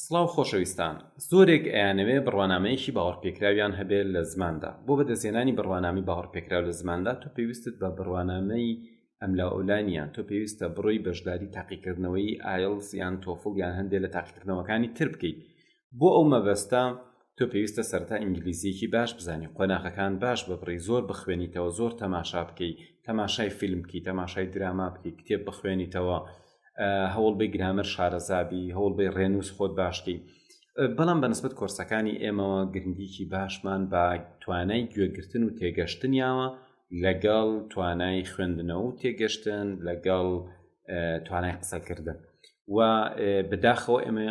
سڵاو خۆشەویستان زۆرێک ئەیانەوێ بڕوانامەیەکی باوەڕپێکراویان هەبێ لە زماندا بۆ بەدەستهێنانی بڕوانامی باوەڕپێکراو لە زماندا تۆ پێویستت بە بڕوانامەی ئەملا ئەولا نییە تۆ پێویستە بڕۆی بەشداری تاقیکردنەوەی ئایڵس یان تۆفڵ یان هەندێ لە تاقیکردنەوەکانی تر بکەیت بۆ ئەو مەبەستە تۆ پێویستە سەرەتا ئینگلیزییەکی باش بزانی قۆناغەکان باش ببڕی زۆر بخوێنیتەوە زۆر تەماشا بکەی تەماشای فیلم بکەی تەماشای دراما بکەی کتێب بخوێنیتەوە هەوڵ بی گرامەر شارەزابی هەوڵ بی ڕێنووس خۆت باشکەی بەڵام بەنسبت کۆرسەکانی ئێمەوە گرنگیکی باشمان بە توانای گوێگرتن و تێگەشتنیاوە لەگەڵ توانای خوێندنەوە و تێگەشتن لەگەڵ توانای قسەکردن و بداخەوە ئێمە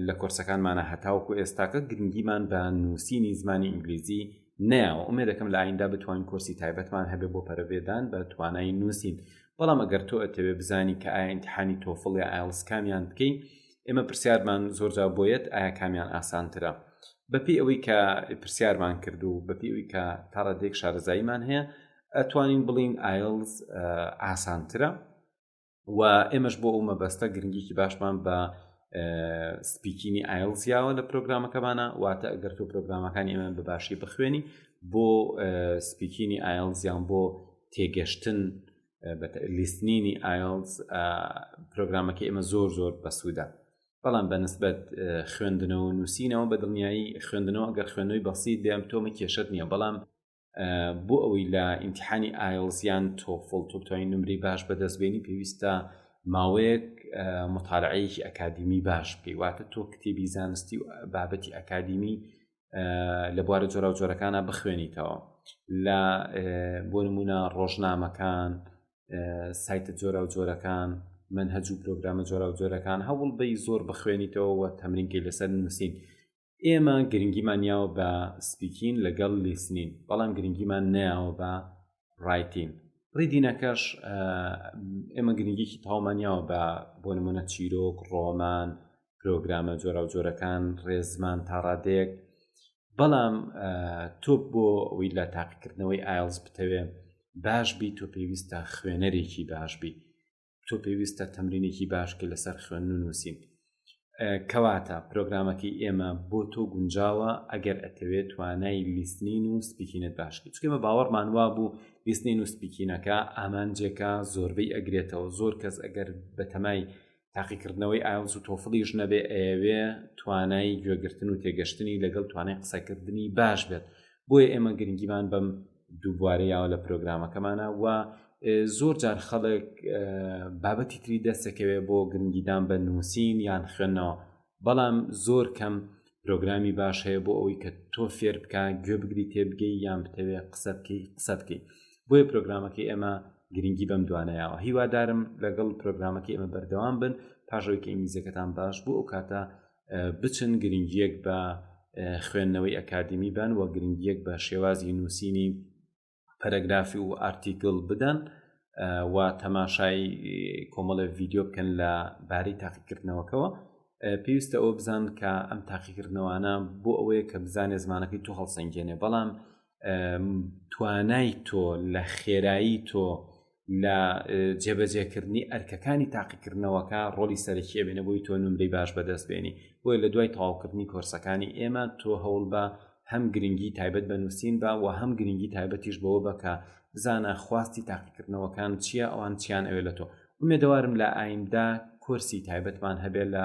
لە کۆرسەکانمانە هەتاوکو ئێستاکە گرنگیمان بە نووسینی زمانی ئینگلیزی ناوە ئومێ دەکەم لە ئایندا بتوانین کۆرسی تایبەتمان هەبێ بۆ پەرەێدان بە توانای نووسین بەڵام ئەگەر تۆ ئەتەوێ بزانی کە ئاینتحانی تۆفڵ یا ئایلس کامیان بکەین ئێمە پرسیارمان زۆرجا بۆیەت ئایا کامیان ئاسانترە بەپی ئەوەی کە پرسیارمان کرد و بەپی ئەوی کە تاڕادێک شارەزاییمان هەیە ئەتوانین بڵین ئایلز ئاسانترە و ئێمەش بۆ ئەو مەبەستە گرنگیکی باشمان بە سپیکینی ئایلزیاوە لە پرۆگرامەکەمانە واتە ئەگەر تۆ پرۆگرامەکانی ئێمە بە باشی بخوێنی بۆ سپیکینی ئایلزیان بۆ تێگەشتن لیستنینی ئایلز پرۆگرامەکە ئێمە زۆر زۆر بەسوودە بەڵام بەنسبەت خوێندنەوە نووسینەوە بە دڵنیایی خوێندنەوە گەر خوێنەوەی بەسییت بێم تۆمە کێشت نییە بەڵام بۆ ئەوەی لە ئیمتحانی ئایلزیان تۆفڵ تۆپتوانی نمری باش بەدەستبێنی پێویستە ماوەیەک مطالعەیەکی ئەکادیمی باش بکەی واتە تۆ کتێبی زانستی و بابەتی ئەکادیمی لە بوارە جۆرا و جۆرەکانە بخوێنیتەوە لە بۆ نمونە ڕۆژنامەکان سایتە جۆرا و جۆرەکان من هەجوو پرۆگرامە جۆرا و جۆرەکان هەوڵ بی زۆر بخوێنیتەوە تەمرینکەی لەسەر نووسین ئێمە گرنگیمان یاوە بە سپیکین لەگەڵ لیسنین بەڵام گرنگیمان نیاوە بە ڕایتین ڕیدینەکەش ئێمە گرنگێکی تاومانیاوە بە بۆ نمونە چیرۆک ڕۆمان پرۆگرامە جۆرا و جۆرەکان ڕێزمان تا ڕادێک بەڵام تۆ بۆ ئەوی لە تاقیکردنەوەی ئایلز بتەوێ باش بی تۆ پێویستە خوێنەرێکی باش بی تۆ پێویستە تەمرینێکی باش کە لەسەر خوێن و نووسین کەواتە پرۆگرامەکەی ئێمە بۆ تۆ گونجاوە ئەگەر ئەتەوێت توانای لیستنین و سپیکینت باشکی چکێمە باوەڕمان وا بوو لیستنین و سپیکینەکە ئامانجێکە زۆربەی ئەگرێتەوە زۆر کەس ئەگەر بەتەمای تاقیکردنەوەی ئاوز و تۆفڵیش نەبێ ئەیەوێ توانای گوێگرتن و تێگەشتنی لەگەڵ توانای قسەکردنی باش بێت بۆیە ئێمە گرنگیمان بەم دووبوارە یاوە لە پرۆگرامەکەمانە و زۆر جار خەڵک بابەتی تری دەستەکەوێ بۆ گرنگیدان بە نووسین یان خوێندنەوە بەڵام زۆر کەم پرۆگرامی باش هەیە بۆ ئەوەی کە تۆ فێر بکە گوێ بگری تێبگەی یان بتەوێ قسە بکەی قسە بکەی بۆیە پرۆگرامەکەی ئێمە گرنگی بەم دوانەیەوە هیوادارم لەگەڵ پرۆگرامەکەی ئێمە بەردەوام بن پاشەوەی کە ئینگلیزەکەتان باش بوو ئەو کاتە بچن گرنگیەک بە خوێندنەوەی ئەکادمی بن و گرنگیەک بە شێوازی نووسینی پەرەگرافی و ئارتیکل بدەن و تەماشای کۆمەڵە ڤیددیو بکەن لە باری تاقیکردنەوەکەەوە پێویستە ئەوە بزان کە ئەم تاقیکردنەوەانە بۆ ئەوەیە کە بزانێ زمانەکەی تو هەڵسەنگێنێ بەڵام توانای تۆ لە خێرایی تۆ لە جێبەجێکردنی ئەرکەکانی تاقیکردنەوەکە ڕۆلی سەرەکیە بێنە بۆی تۆ نمرەی باش بەدەست بێنی بۆیە لە دوای تەواوکردنی کۆرسەکانی ئێمە تۆ هەوڵ بە هەم گرنگی تایبەت بە نووسین بە و هەم گرنگی تایبەتیش بەوە بەکە بزانە خواستی تاقیکردنەوەکان چییە ئەوان چیان ئەوێ لە تۆ ئومێدەوارم لە ئایندە کۆرسی تایبەتمان هەبێت لە